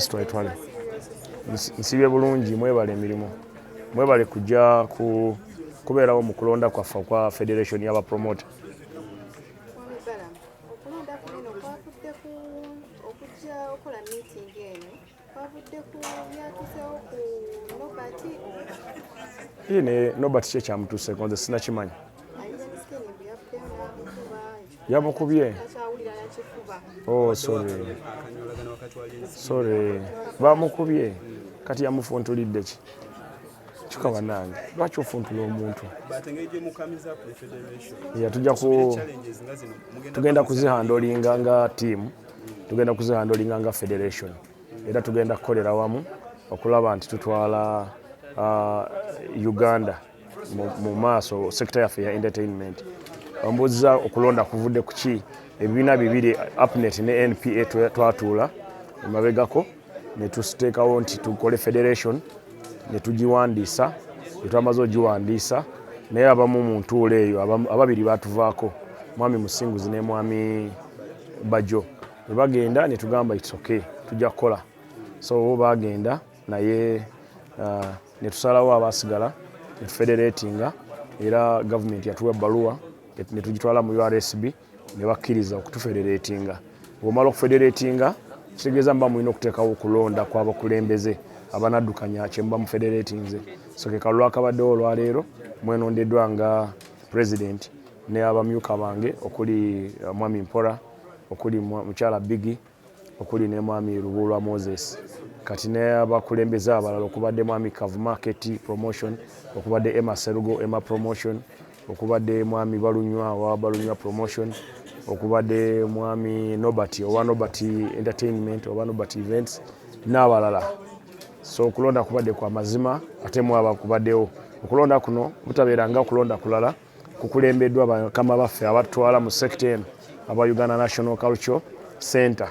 twetwale nsibye bulungi mwebale emirimu mwebale kujja ku kubeerawo mu kulonda kwaffe okwa federation y'abapromota ine nobert kye kyamutuuseko nze sinakimanya yamukubye oh sorry sorry bamukubye kati yamufuntulidde ki kika banange lwaki ofuntula omuntu yatujja ku tugenda kuzihandolinga nga tiimu tugenda kuzihandolinga nga federation era tugenda kukolera wamu okulaba nti tutwala uh, uganda mu maaso sekita yaffe ya entertainment ombuuziza okulonda kuvudde ku ki ebibiina bibiri apnet ne npa twatuula emabegako ne tusiteekawo nti tukole federation ne tugiwandiisa etwamaze ogiwandiisa naye abamu mu ntuula eyo ababiri batuvaako mwami musinguzi ne mwami bajo ne bagenda ne tugamba itsoke tujja kukola so baagenda naye uh, netusalawo abasigala netufederetinga era gavumenti yatuwa ebbaluwa netugitwala mu ursb ne bakkiriza okutufederetinga bwomala okufederetinga kitegeeza muba mulina okuteekawo okulonda kwabakulembeze abanaddukanya kyemuba mufederetinze so ke kalulu akabaddewo olwaleero mwenondeddwa nga president ne abamyuka bange okuli uh, mwami mpora okuli mukyala bigi okuli ne Mwami Lubuulwa Moses kati n'abakulembeze abalala okubadde Mwami Kavuma KT Promotion, okubadde Emma Serugo Emma Promotion, okubadde Mwami Balunywa owa Balunywa Promotion, okubadde Mwami Nobert owa Nobert Entertainment oba Nobert Events n'abalala. So okulonda kubadde kwa mazima ate mwaba kubaddewo okulonda kuno butabeera nga okulonda kulala kukulembeddwa bakama baffe abatutwala mu sekita eno aba Uganda National Cultural Center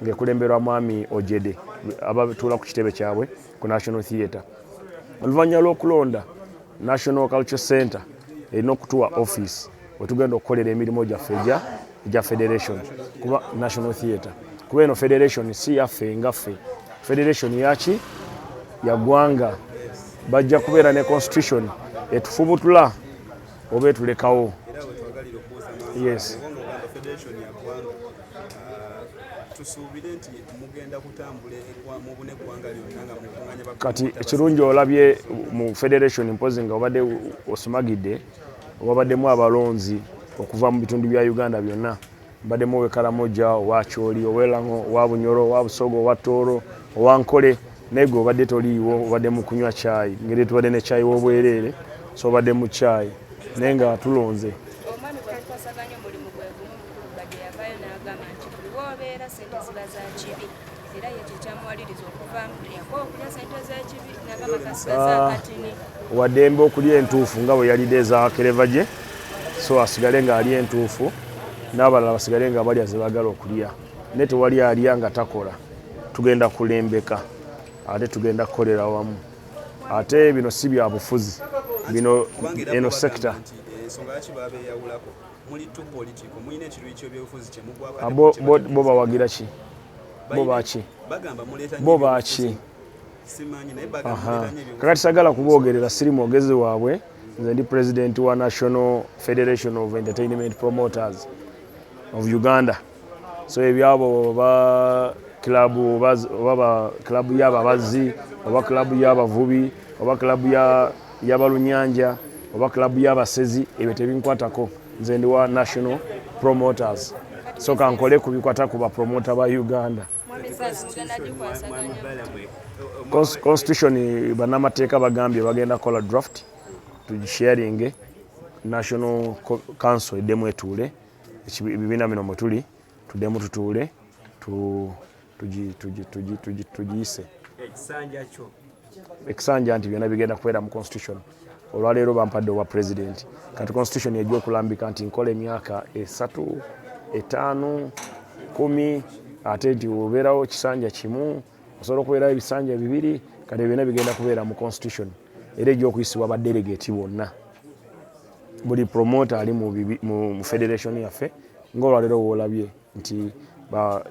ng'ekulemberwa Mwami Ojede abatuula ku kitebe kyabwe ku National Theatre. Oluvannyuma lw'okulonda National Cultural Center erina okutuwa ofiisi wetugenda okukolera emirimu gyaffe egya egya federation kuba national theatre kuba eno federation si yaffe nga ffe federation yaki yagwanga bajja kubeera ne constitution etufubutula oba etulekawo yes kati ekirungi olabye mu federation mpozi nga obadde osumagidde Wabaddemu abalonzi okuva mu bitundu bya Uganda byonna. Mbaddemu ow'e Karamoja, owa Choli, ow'e Lang'o, owa Bunyoro, owa Busoga, owa Tooro, owa Nkole naye gwe obadde toliiwo, obadde mu kunywa caayi. Ngeri tubadde ne caayi w'obwereere, so obadde mu caayi naye nga tulonze. era ye kyekyamuwaliriza okuvaamu yakowa okulya sente z'ekibi nagamba kasigaza ah, akatini wadembe okulya entuufu nga bwe yalidde eza kereva gye so asigale ng'alya entuufu n'abalala basigale nga balya ze bagala okulya naye tewali alya nga takola tugenda kulembeka ate tugenda kukolera wamu ate bino si bya bufuzi bino eno sekita Ah, bo bawagira ki bo baki bo baki kakati sagala kuboogerera siri mwogezi waabwe nze ndi president wa national federation of entertainment promoters of uganda so ebyabo oba club oba oba club ya babazi oba club ya bavubi oba club ya ya balunyanja oba club ya basezi ebyo tebinkwatako nze ndi wa national promoters so kankole kubikwata ku bapromota ba uganda constitution banamateeka bagambye bagenda kola draft tugisharinge national council eddemu etuule ebibiina bino mwe tuli tuddemu tutuule tugiyise ekisanja nti byonna bigenda kubeera mu constitution olwaleero bampadde obwa president kati constitution ejja okulambika nti nkola emyaka esatu etaano kumi ate nti obeerawo kisanja kimu osobola okubeerawo ebisanja bibiri kati byonna bigenda kubeera mu constitution era ejja okuyisibwa badelegate bonna buli promoter ali mu, mu, mu federation yaffe ng'olwaleero woolabye nti ba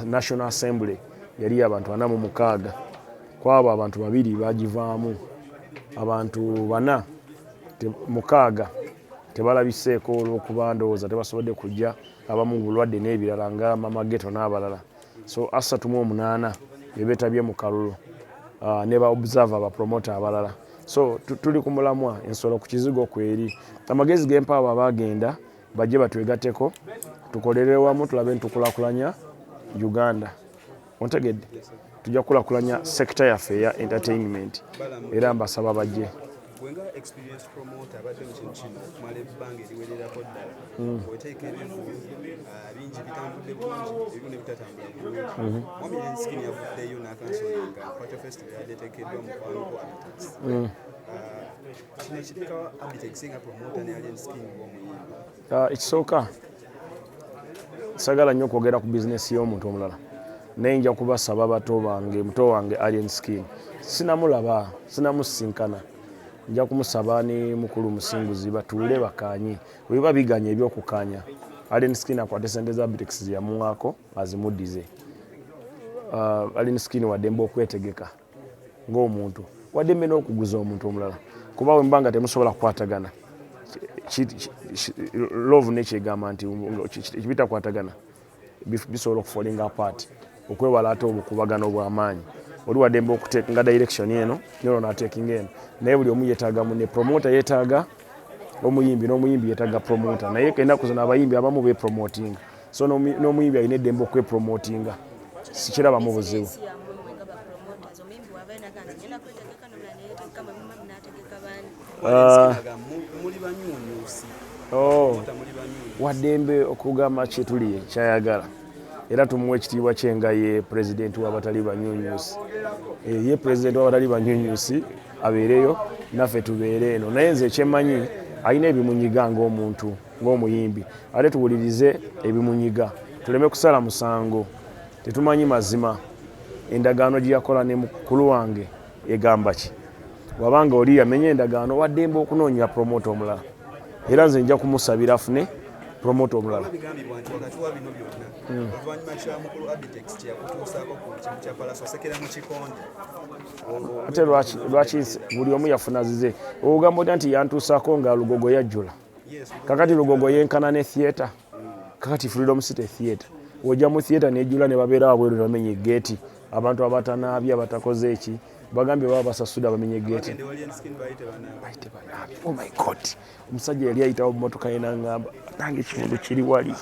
national assembly yali abantu ana mu mukaaga kwabo abantu babiri bagivaamu abantu bana te, mukaaga tebalabiseeko olw'okuba ndowooza tebasobodde kujja abamu bulwadde n'ebirala nga mama geto n'abalala so asatu mu omunaana bebetabye mu kalulu uh, ne ba observer ba promoter abalala so tuli ku mulamwa ensolo ku kizigo kweri amagezi gempa abo abagenda bajje batwegateko tukolere wamu tulabe ntukulakulanya uganda ontegedde tujja kukulakulanya sekita yaffe eya entertainment era mbasaba bajje gwe nga experience promoter abadde mu kintu kino okumala ebbanga eriwererako ddala mm. oteeka ebintu ah, bingi bitambudde bulungi ebimu ne bitatambula bulungi mm-hmm. wami enskin yavuddeyo n'akansoninga pato festival yabadde eteekeddwa mu kwanuku abitas mm. ah, kino ekiteekawo abitekisinga promoter ne alien skin ng'omuyimbi Ah, ekisooka sagala nnyo okwogera ku bizinesi y'omuntu omulala naye nja kubasaba bato bange muto wange alien skin sinamulaba sinamusinkana nja kumusaba ni mukulu musinguzi batuule bakanye weba biganya ebyokukanya alien skin akwate sente za brix yamuwaako azimudize uh, ah, alien skin wademba okwetegeka ng'omuntu wadde mmena okuguza omuntu omulala kuba bwe muba nga temusobola kukwatagana love nekyegamba nti bitakwatagana bisobola okufolinga apart okwewala ate obukubagano obw'amaanyi oli wadembe okutekinga direction eno nolo natekinga eno naye buli omu yetaaga mune promota yetaaga omuyimbi n'omuyimbi yetaaga promota naye enaku zino abayimbi abamu bepromotinga so n'omuyimbi alina eddembe okwepromotinga sikirabamu buzibu ah. oh. waddembe okugamba kyetuli kyayagala era tumuwa ekitiibwa kye nga ye pulezidenti w'abatali banyunyusi eh, ye pulezidenti w'abatali banyunyusi abeereyo naffe tubeere eno naye nze ekyemanyi alina ebimunyiga ngaomuntu ng'omuyimbi ate tuwulirize ebimunyiga tuleme kusala musango tetumanyi mazima endagaano gye yakola ne mukulu wange egamba ki wabanga oli yamenya endagaano waddembe okunoonya promota omulala era nze nja kumusabira afune promota omulala hmm. ate lwaki buli omu yafuna zize ogambo ta nti yantuusaako nga lugogo yajjula kakati lugogo yenkana ne theatre kakati freedom city theatre wojja mu theatre nejula ne babeera wabweru ne bamenya egeeti abantu abatanaabye abatakoze eki bagambye baba basasuda bamenye egeeti oh my god omusajja yali ayitawo mumotoka ye nangamba nange ekifundu kiri wali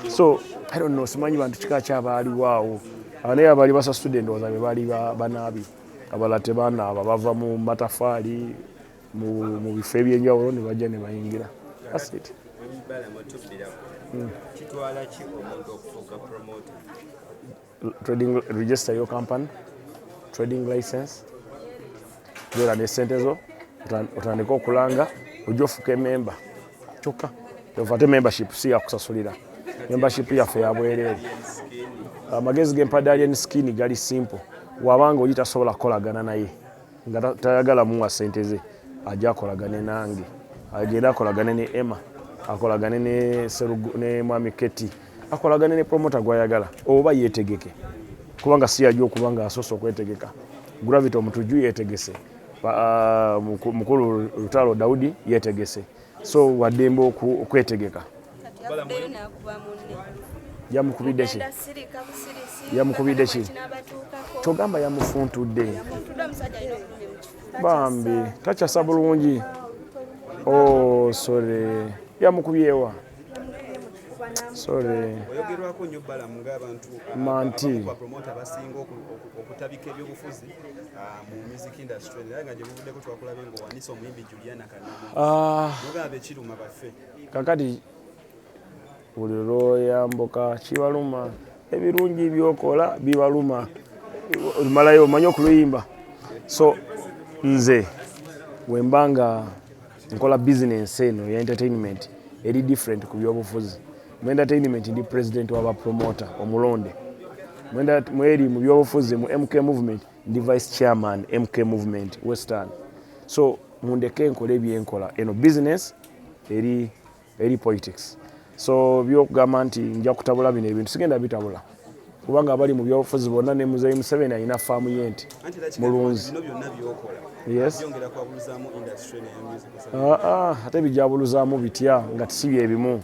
so i don't know simanyi bantu kika kyabaaliwaawo anaye abaali basasude endowooza be baali banaabye abala tebanaaba bava mu matafaali mu bifo ebyenjawulo ne bajja ne bayingira asit trading register your company trading license zera ne sente zo otandika okulanga ojja ofuka ememba kyokka ovate membership si yakusasulira membership yaffe yabwereere amagezi ah, gempadde alien skin gali simple wabanga oli tasobola kukolagana naye nga tayagala muwa sente ze aja akolagane nange agenda akolagane ne emma akolagane ne serugu ne mwami keti akolagane ne promota gwayagala oba yetegeke kubanga si yaja okuba nga asoose okwetegeka gravity omutujju yetegese uh, mukulu lutalo daudi yetegese so waddembe okwetegeka yamukubidde ki yamukubidde ki kyogamba yamufuntudde bambi takyasa bulungi o oh, sore yamukubyewa sorry oyogerwako nnyo balamu ng'abantu manti bapromota abasinga okutabika ebyobufuzi ah, mu music industry era nga gye buvuddeko twakulabye ng'owanisa omuyimbi Ah. kakati buli lwoyambuka kibaluma ebirungi byokola bibaluma malayo omanyi okuluyimba so nze wemba nga nkola bizinensi eno ya entertainment eri different ku byobufuzi mu entertainment ndi president wa bapromota omulonde mweri mu byobufuzi mu mk movement ndi vice chairman mk movement western so mundeke enkola ebyenkola eno business eri eri politics so byokugamba nti nja kutabula bino ebintu sigenda bitabula kubanga abali mu byobufuzi bonna ne muzeyi museveni alina faamu ye nti mulunzi ah, ah, ate bijabuluzaamu bitya nga tisi byebimu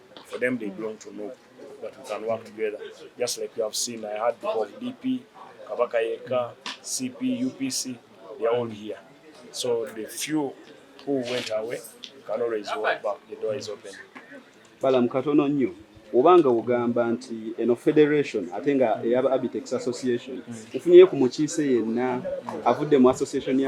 For them, they belong to Nup, but we can work together. Just like you have seen, I had people of DP, Kabaka Yeka, CP, UPC, they are all here. So the few who went away can always walk back. The door is open. Balam katono nnyo oba nga ogamba nti eno federation ate nga eya Abitex Association mm. ufunyeyo ku mukiise yenna avudde mu association ya